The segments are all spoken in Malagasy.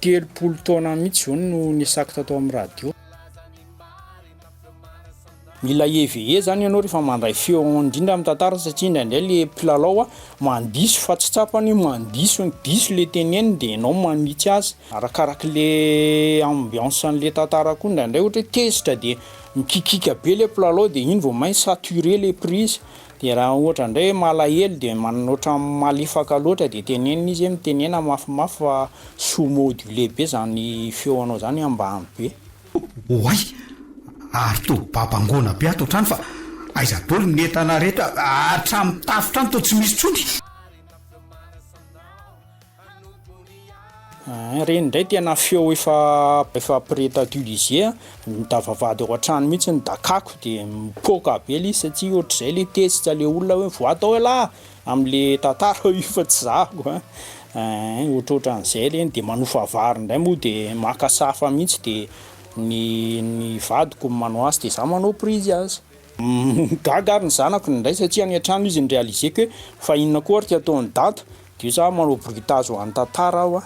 Telopolo taona mihitsy izao no nisako tato amin'ny radio. Mila EVE zany ianao rehefa mandray feo indrindra amin'ny tantara satria indraindray le mpilalao mandiso fa tsy tsapany mandiso ny diso le teneniny de ianao manitsy azy. Arakaraka le ambiance an'le tantara koa indraindray ohatra hoe tezitra de mikikika be le mpilalao de iny vao may saturer le prise Dia raha ohatra indray hoe malahelo dia manana ohatran'ny malefaka loatra dia tenenina izy hoe mitenena mafimafy fa sous modulé be izany feonao izany hoe ambany be. Oay! Ary toa babangoana be ato an-trano fa aiza daholo ny entana rehetra, hatramin'ny tafo trano toa tsy misy intsony. Ahh reny ndray tena feo efa efa près d'utiliser a, da vavahady ao an-trano mihitsy ny dakako de mipoaka be le izy satsia ohatr'izay le tezitra le olona hoe voa tao elah am'le tantara io fa tsy zahako a, eehh ohatrohatran'izay reny de manofa vary ndray moa de maka sahafa mihitsy de ny ny vadiko no manao azy de za manao prise azy, gaga ary ny zanako ndray satsia any an-trano izy ny realiser-ko hoe fa inona koa ary ty ataon'i dada Dia za manao bruitage ho an'ny tantara aho a.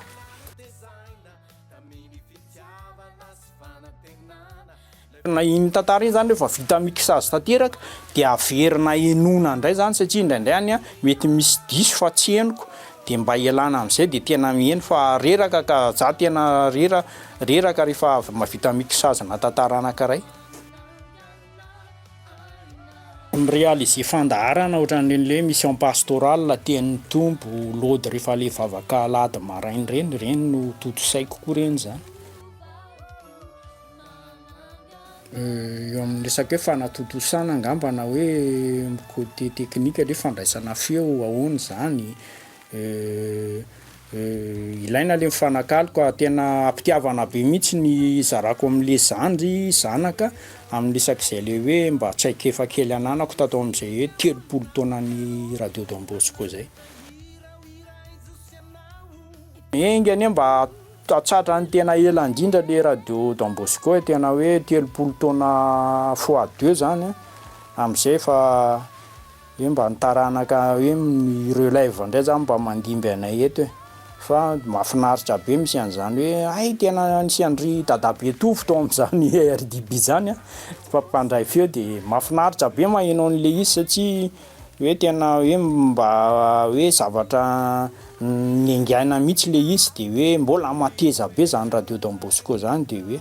Iny tantara iny zany rehefa vita mixage tanteraka dia averina henoina indray zany satria indraindray any mety misy diso fa tsy henoko dia mba ialana amin'izay dia tena miheno fa reraka ka, za tena rera- reraka rehefa avy mahavita mixage-na tantara anankiray. Ny realiser fandaharana ohatran'ireny le mission pastorale tian'ny Tompo lody rehefa le vavaka alahady maraina ireny, ireny no tontosaiko koa ireny zany. Eo amin'ny resaka hoe fanatontosana angamba na hoe côté technique le fandraisana feo ahoana zany, Eh eh ilaina le mifanakalo ka tena ampitiavana be mihitsy ny zarako amle zandry, zanaka, aminy resak'izay le hoe mba traikefa kely ananako tato amzay hoe telopolo taonan'ny radio don bosco zay. Enga anie mba atsatra ny tena ela indrindra le radio don bosco e, tena hoe telopolo taona fois deux zany an, amzay efa Hoe mba ny taranaka hoe ny relève indray zany mba mandimby anay eto e! fa mafinaritra be misy an'izany hoe hay tena nisy an-dry dadabe Tovo tao amin'izany RDB izany a! fa mpandray feo de mafinaritra be maheno an'ilay izy satria hoe tena hoe mba hoe zavatra niaingaina mihitsy ilay izy de hoe mbola mateza be izany radio Don Bosco izany de hoe.